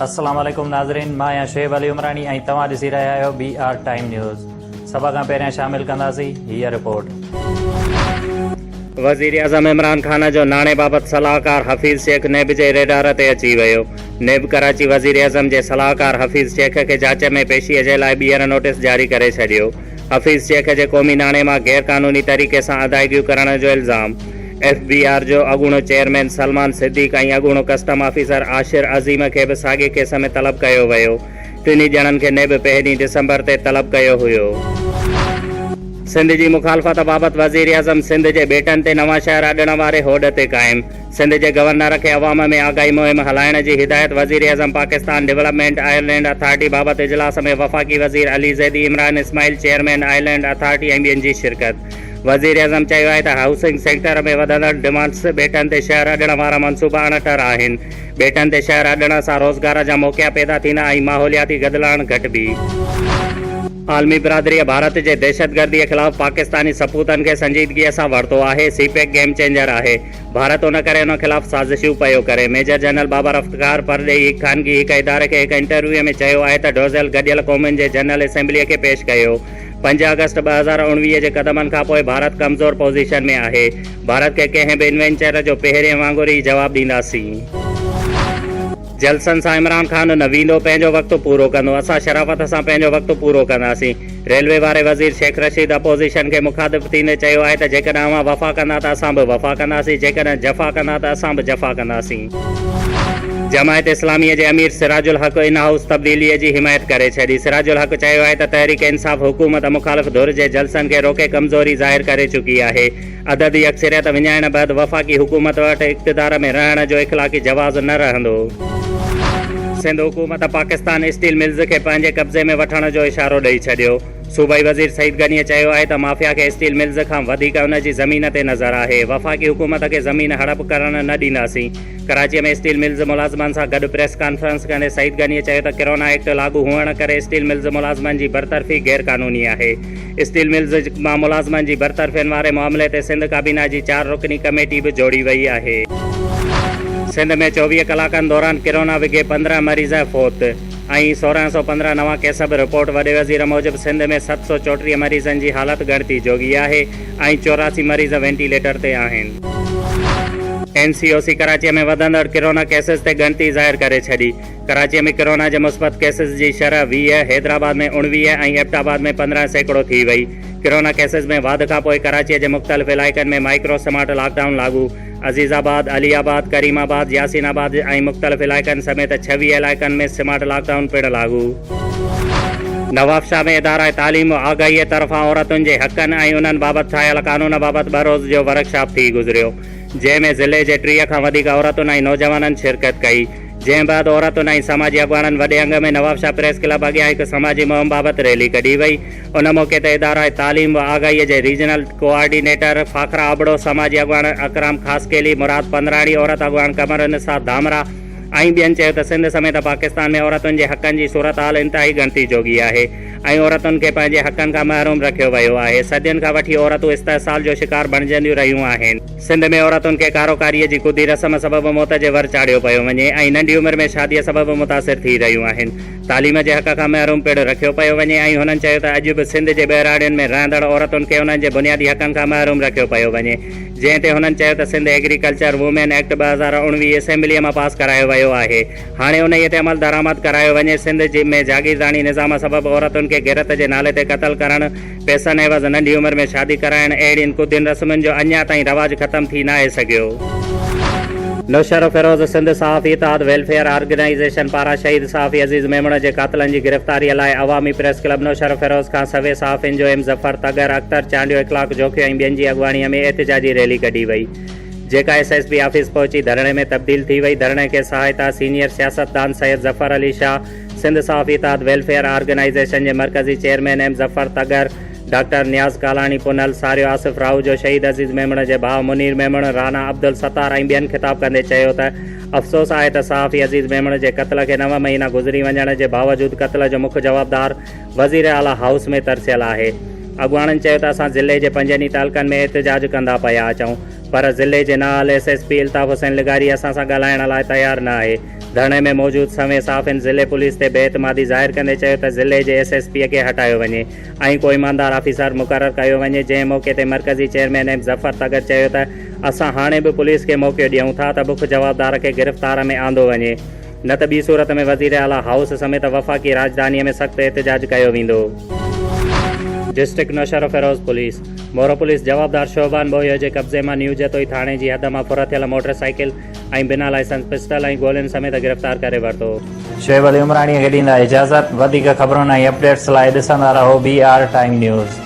السلام عليڪم ناظرين مان آهيان شعيب علي عمراڻي ۽ توهان ڏسي رهيا آهيو بي آر ٽائيم نيوز سڀ کان پهريان شامل ڪنداسين هيء رپورٽ. وزيراعظم عمران خان جو ناڻي بابت صلاحڪار حفيظ شيخ نيب جي ريڊار تي اچي ويو، نيب ڪراچي وزيراعظم جي صلاحڪار حفيظ شيخ کي جاچ ۾ پيشي جي لاء ٻيهر نوٽيس جاري ڪري ڇڏيو. حفيظ شيخ جي قومي ناڻي مان غير قانوني طريقي سان ادائيگيون ڪرڻ جو الزام، ايف بي آر جو اڳوڻو چيئرمين سلمان صديق ۽ اڳوڻو ڪسٽم آفيسر عاشر عظيم کي به ساڳئي ڪيس ۾ طلب ڪيو ويو، ٽنهي ڄڻن کي نيب پهرين ڊسمبر تي طلب ڪيو هيو. سنڌ جي مخالفت بابت وزيراعظم سنڌ جي ٻيٽن تي نوان شهر اڏڻ واري هوڏ تي قائم، سنڌ جي گورنر کي عوام ۾ آگاهي مهم هلائڻ جي هدايت، وزيراعظم پاڪستان ڊولپمينٽ آئرلينڊ اٿارٽي بابت اجلاس ۾ وفاقي وزير Ali Zaidi, Imran Ismail, chairman island authority ۽ ٻين جي شرڪت. وزيراعظم چيو آهي ته هائوسنگ سيڪٽر ۾ وڌندڙ ڊمانڊز ٻيٽن تي شهر اڏڻ وارا منصوبا اڻ ٽر آهن، ٻيٽن تي شهر اڏڻ سان روزگار جا موقعا پيدا ٿيندا ۽ ماحولياتي گدلاڻ گهٽبي. عالمي برادريء ڀارت جي دهشتگرديء خلاف پاڪستاني سپوتن کي سنجيدگيء سان ورتو آهي، سي پيڪ گيم چينجر آهي. ڀارت ان ڪري ان خلاف سازشون پيو ڪري. ميجر جنرل بابر افتخار پرڏيهي هڪ خانگي هڪ اداري کي هڪ انٽرويوء ۾ چيو آهي ته ڊوزيل گڏيل قومن جي جنرل اسيمبليء کي پيش ڪيو. پنج آگسٽ ٻه هزار اڻويهه جي قدمن کان پوء ڀارت ڪمزور پوزيشن ۾ آهي. ڀارت کي ڪنهن به انوينچر جو پهرين وانگر ئي جواب ڏينداسين. جلسن سان عمران خان نه ويندو، پنهنجو وقت پورو ڪندو، اسان شرافت سان پنهنجو وقت پورو ڪنداسين، ريلوي واري وزير شيخ رشيد اپوزيشن کي مخاطب ٿيندي چيو آهي ته جيڪڏهن اوهان وفا ڪندا ته اسان به وفا ڪنداسين، جيڪڏهن جفا ڪندا ته اسان به جفا ڪنداسين. جماعت اسلامي جي امير سراج الحق ان هائوس تبديلي جي حمايت ڪري ڇڏي، سراج الحق چيو آهي ته تحريڪ انصاف حڪومت مخالف ڌر جي جلسن کي روڪي ڪمزوري ظاهر ڪري چڪي آهي، عددي اڪثريت وڃائڻ بعد وفاقي حڪومت وٽ اقتدار ۾ رهڻ جو اخلاقي جواز نه رهندو. سنڌ حڪومت پاڪستان اسٽيل ملز کي پنهنجي قبضي ۾ وٺڻ جو اشارو ڏئي ڇڏيو. صوبائي وزير سعيد غنيء چيو آهي ته مافيا کي اسٽيل ملز کان وڌيڪ ان جي زمين تي نظر آهي، وفاقي حڪومت کي زمين هڙپ ڪرڻ نه ڏينداسين. ڪراچيء ۾ اسٽيل ملز ملازمن سان گڏ پريس ڪانفرنس ڪندي سعيد غنيء چيو ته ڪرونا ايڪٽ لاڳو هئڻ ڪري اسٽيل ملز ملازمن جي برطرفي غيرقانوني آهي. اسٽيل ملز مان ملازمن جي برطرفين واري معاملي تي سنڌ ڪابينا جي چار رڪني ڪميٽي به جوڙي وئي آهي. سنڌ ۾ چوويهه ڪلاڪن دوران ڪرونا وگهي پندرهن مريض فوت ۽ سورهن سؤ پندرهن نوان ڪيس به رپورٽ وڏي وزير موجب سنڌ ۾ ست سؤ چوٽيهه مريضن جي حالت ڳڻتي جوڳي آهي ۽ چوراسي مريض وينٽيليٽر تي آهن. اين سي او سي ڪراچي ۾ وڌندڙ ڪرونا ڪيسز تي ڳڻتي ظاهر ڪري ڇڏي. ڪراچيء ۾ ڪرونا جي مثبت ڪيسز جي شرح ويهه، حيدرآباد ۾ اوڻويهه ۽ ايبٽ آباد ۾ پندرهن سيڪڙو ٿي وئي. ڪرونا ڪيسز ۾ واڌ کانپوء ڪراچيء جي مختلف علائقن ۾ مائيڪرو سمارٽ لاڪ ڊائون لاڳو. عزيز آباد، علي آباد، ڪريم آباد، ياسين آباد ۽ مختلف علائقن سميت ڇويهه علائقن ۾ سمارٽ لاڪ ڊائون پڻ لاڳو. نوابشاهه ۾ اداره تعليم و آگاهيء طرفان عورتن جي حقن ۽ انهن بابت ٺاهيل قانون بابت ٻه روز جو ورڪشاپ ٿي گذريو، جنهن ۾ ضلعي جي ٽيهه کان وڌيڪ عورتن ۽ نوجوانن شرڪت ڪئي. جنهن بعد عورتن ۽ سماجي اڳواڻن وڏي انگ ۾ نوابشاهه پريس ڪلب اڳيان هڪ سماجي مهم بابت ريلي ڪڍي وئي. ان موقعي تي اداره تعليم و آگاهيء جي ريجنل ڪوآرڊينيٽر فاخره ابڙو، سماجي اڳواڻ اڪرام خاصخيلي، مراد پنڌراڻي، عورت اڳواڻ قمر النساء ڌامراهه ۽ ٻين چيو ته سنڌ سميت پاڪستان ۾ عورتن جي حقن جي صورتحال انتهائي ڳڻتي جوڳي آهي ۽ عورتن کي پنهنجي حقن کان محروم رکيو ويو آهي، صدين کان وٺي عورتون استحصال جو شڪار بڻجنديون رهيون آهن. سنڌ ۾ عورتن کي ڪاروڪاريء جي ڪڌي رسم سبب موت جي ور چاڙهيو پيو وڃي ۽ ننڍي عمر ۾ شاديء سبب متاثر ٿي رهيون آهن. تعليم جي حق کان محروم پڻ رکيو پيو وڃي ۽ هنن چيو ته اڄ به سنڌ جي ٻهراڙين ۾ رهندڙ عورتن کي انهن جي بنيادي حقن کان محروم رکيو پيو وڃي جنهن تي هنن چيو ته سنڌ ايگريڪلچر وومين ايڪٽ ٻه هزار اڻويهه اسيمبليء مان پاس ڪرايو ويو آهي هاڻي انهيء تي عملدرآمد ڪرايو وڃي سنڌ ۾ جاگيرداڻي نظام سبب عورتن کي غيرت جي نالي تي قتل ڪرڻ پئسن عيوض ننڍي عمر ۾ شادي ڪرائڻ اهڙين ڪوڌين رسمن جو اڃا تائين رواج ختم ٿي ناهي سگهيو. نوشهرو فيروز سنڌ صحافي اتحاد ويلفيئر آرگنائيزيشن پاران شهيد صحافي عزيز ميمڻ جي قاتلن جي گرفتاري لاء عوامي پريس ڪلب نوشهرو فيروز کان سوين صحافين جو ايم ظفر، طغر، اختر، چانڊيو، اخلاق جوکيو ۽ ٻين جي اڳواڻيء ۾ احتجاجي ريلي ڪڍي وئي جيڪا ايس ايس پي آفيس پهچي ڌرڻي ۾ تبديل ٿي وئي ڌرڻي کي سهائتا سينيئر سياستدان سيد ظفر علي شاهه سنڌ صحافي اتحاد ويلفيئر آرگنائيزيشن جي مرڪزي chairman M Zafar Tagar, doctor Niaz Kalani Punhal, Sario Asif Rahujo, شهيد عزيز ميمڻ جي ڀاء منير ميمڻ، رانا عبدالستار ۽ ٻين خطاب ڪندي چيو ته افسوس آهي ته صحافي عزيز ميمڻ جي قتل کي نو مهينا گذري وڃڻ جي باوجود قتل جو مک جوابدار وزير اعليٰ هائوس ۾ ترسيل آهي. اڳواڻن چيو ته اسان ضلعي جي پنجن ئي تعلقن ۾ احتجاج ڪندا پيا اچون پر ضلعي جي نااهل S S P Altaf Hussain لغاري اسان سان ڳالهائڻ لاء تيار نه آهي. ڌرڻي ۾ موجود سوين صحافين ضلعي پوليس تي بي اعتمادي ظاهر ڪندي چيو ته ضلعي جي ايس ايس پي کي هٽايو وڃي ۽ ڪو ايماندار آفيسر مقرر ڪيو وڃي جنهن موقعي تي مرڪزي چيئرمين ايم ظفر تڳر چيو ته اسان هاڻي به پوليس کي موقعو ڏيون ٿا ته بک جوابدار کي گرفتار ۾ آندو وڃي نه ته ٻي صورت ۾ وزيراعليٰ هائوس سميت وفاقي راڄڌاني ۾ سخت احتجاج ڪيو ويندو. District Naushahro Feroze police Moro police جوابدار شوبان ٻوهيو جي قبضي مان نيو جتوئي ٿاڻي جي حد مان ڦر ٿيل موٽر سائيڪل، ۽ بنا لائسنس پسٽل ۽ گولين سميت گرفتار ڪري ورتو. شعيب علي عمراڻيء کي ڏيندا اجازت. وڌيڪ خبرن ۽ اپڊيٽس لاء ڏسندا رهو بي آر ٽائيم نيوز.